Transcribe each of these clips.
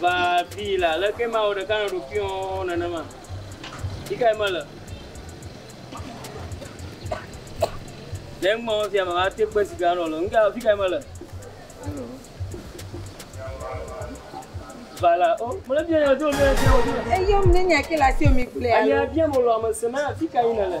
va bii la, aleke ma wɔ ɖeka nɔ ɖokuiɔ nenema? Yi kae mele? Le eŋmɔ fia mava te kpe si gã nɔ le. Ŋga fi kae mele? Vala, o, oh, mele bia ya do le ya do. Eyom ne nya ke la sio mi kple ya. Anya bia mo lo amese ma fi kae nele.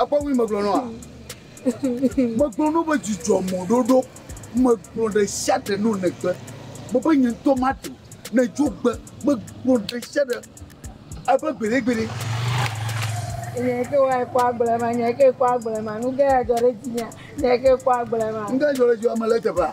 Ekpɔ ŋui megblɔ nɔa? Megblɔ nɔ be dzidzɔ mɔɖoɖo megblɔ ɖe sia ɖe nɔ negbe. Mebe nye ŋutɔ maɖu ne dzo gbe megblɔ ɖe sia ɖe ebe gbeɖegbeɖe. Nye ke wa ekpɔ agble ma, nye ke ekpɔ agble ma, nu ke ya dzɔ ɖe dzinya, nye ke ekpɔ agble ma. Nu ke dzɔ ɖe dziwɔ me le teƒea.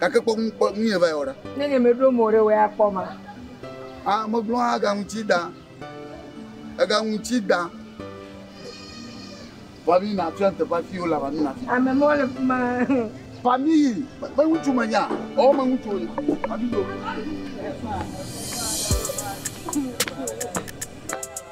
Gake kpɔ ŋu kpɔ nuyɛ va yi wɔ ɖa. Ne nye me ɖo mo ɖe wɛ a kpɔ ma. A me gblɔ a ga ŋuti da. E ga ŋuti da. Wa mi na tu ante pa fi o la wa mi na fi. Ame mo le fi ma. Pa mi yi. Me ŋutu me nya. O me ŋutu o yi. A mi do.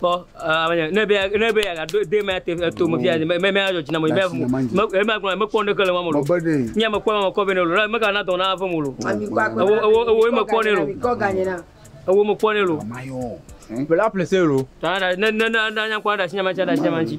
Kpɔ ame nye ne be ne be ya do de ma te to mo via me me ya jina mo me me ma gona me kpɔ ne kele mo mo nya me kpɔ mo kɔ be ne lo me ka na do na ave mo lo wo wo wo me kpɔ ne lo wo me kpɔ ne lo bla place lo ta na na na nya kɔ da nya ma cha da nya ma chi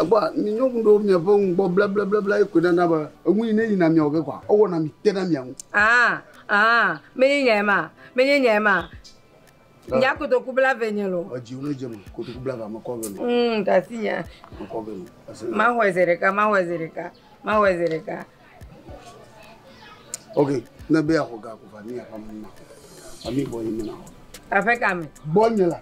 Egbɔa, mi nyɔnu ɖewo miaƒe nu gbɔ blablablabla ye koe nana be enu yi ne yina miawɔ ge kɔa, ewɔna mi tena mia ŋu. Aa, aa, menye nyae ma, menye nyae ma. Nya kotoku bla ve nye lo. Edzi wo ne dze me, kotoku bla va mekɔ ve lo. Mm, ɖe asi nya. Mekɔ ve lo. Ese. Mahɔe ze ɖeka, mahɔe ze ɖeka, mahɔe ze ɖeka. Ok, ne be yeaxɔ ga ko va ne yeaƒe ame ma. Ami gbɔ yi me na. Aƒe ka me? Gbɔ nye la.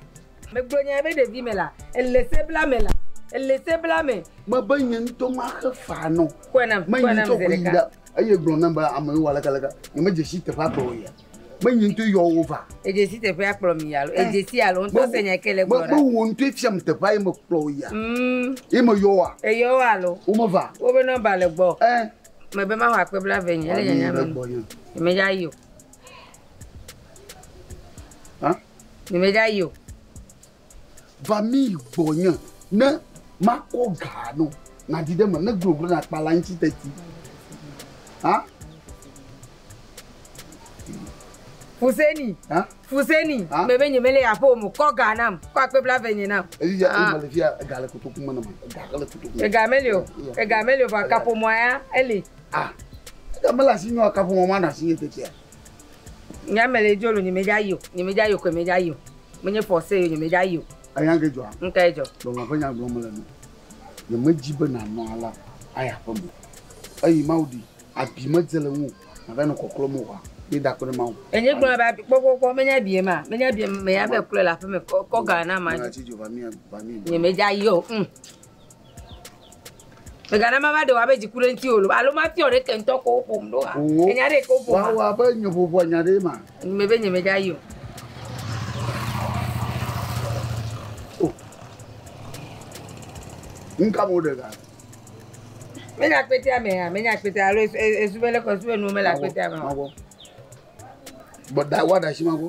Megblɔ nya be ɖevi me la, ele se bla me la, ele se bla me. Mebe nye ŋutɔ maxe fa nɔ. Kɔe nam, kɔe nam zi ɖeka. Eye gblɔ nam be ame yewo aleke aleke, nyemedze si teƒe agblɔ o ya. menyi ŋutɔ yɔ wo va. Edzesi teƒe akplɔ mi alo edzesi alo ŋutɔ se nya ke le gblɔ ɖa. Mewò ŋutɔ efia mi teƒe ye mekplɔ wò yia. Mm. Ye meyɔ wa. Eyɔ wo alo. Wo meva. Wo be nɔmba le gbɔ. Ɛ. Eh. Me be maho akpe bla ve nye ele nyanya me. Me ya yo. Hã? Me ya yo. Va mi gbɔnye ne makɔ ga nɔ nàdi ɖe eme, ne gloglo nakpa le aŋuti teti. Ha? Fuseni, ha? fuseni, ha? mebe nye mele aƒe o mo, kɔ ga nam, kɔ akpe bla venye nam. Eyi ya, eyi mele fia, ega le kotoku me nam, ega le kotoku me. Ega mele o, ega mele o, vɔ akaƒomɔa ya, ele. Ah, ega mele asi nyɔ akaƒomɔ ma na asi nye tetia. Nya me le dzolo nye me dza yio nye me dza yio koe me dza yio me nye force yio nye me dza yio. Anya ke dzɔa? Ŋkɛ dzɔ. Lɔlɔ ƒe nya gblɔ me le nɔ. Nye me dzi be na nɔ ala ayi aƒe me eyi mawu ɖi abi me dze le ŋuo na va nɔ kɔklɔ me oa mi da kpe ɖe mawu. Enye gblɔ be abi kpɔ kpɔ kpɔ me nya abi ye ma me nya abi me ya be klɔe le aƒe me kɔ kɔ ga na ma. Nye me dza yio ŋ. Mègana mava ɖe wò abe dziku ɖe ŋutiwò loo, alo mafiɔ ɖe ke ŋutɔ kowo ƒom ɖo oa? Owó, Ènya ɖee kowo ƒom oa? Woawɔ abe nye ʋuʋua nya ɖee ma? Ŋugbe be nyemegayi o. O, nuka me woɖe ga le? Menye akpetea mea? Menye akpetea alo esu e esu be leke esu be nuwo mele akpetea me oa? Magbɔ. Gbɔ ɖa woaɖe asi magbɔ.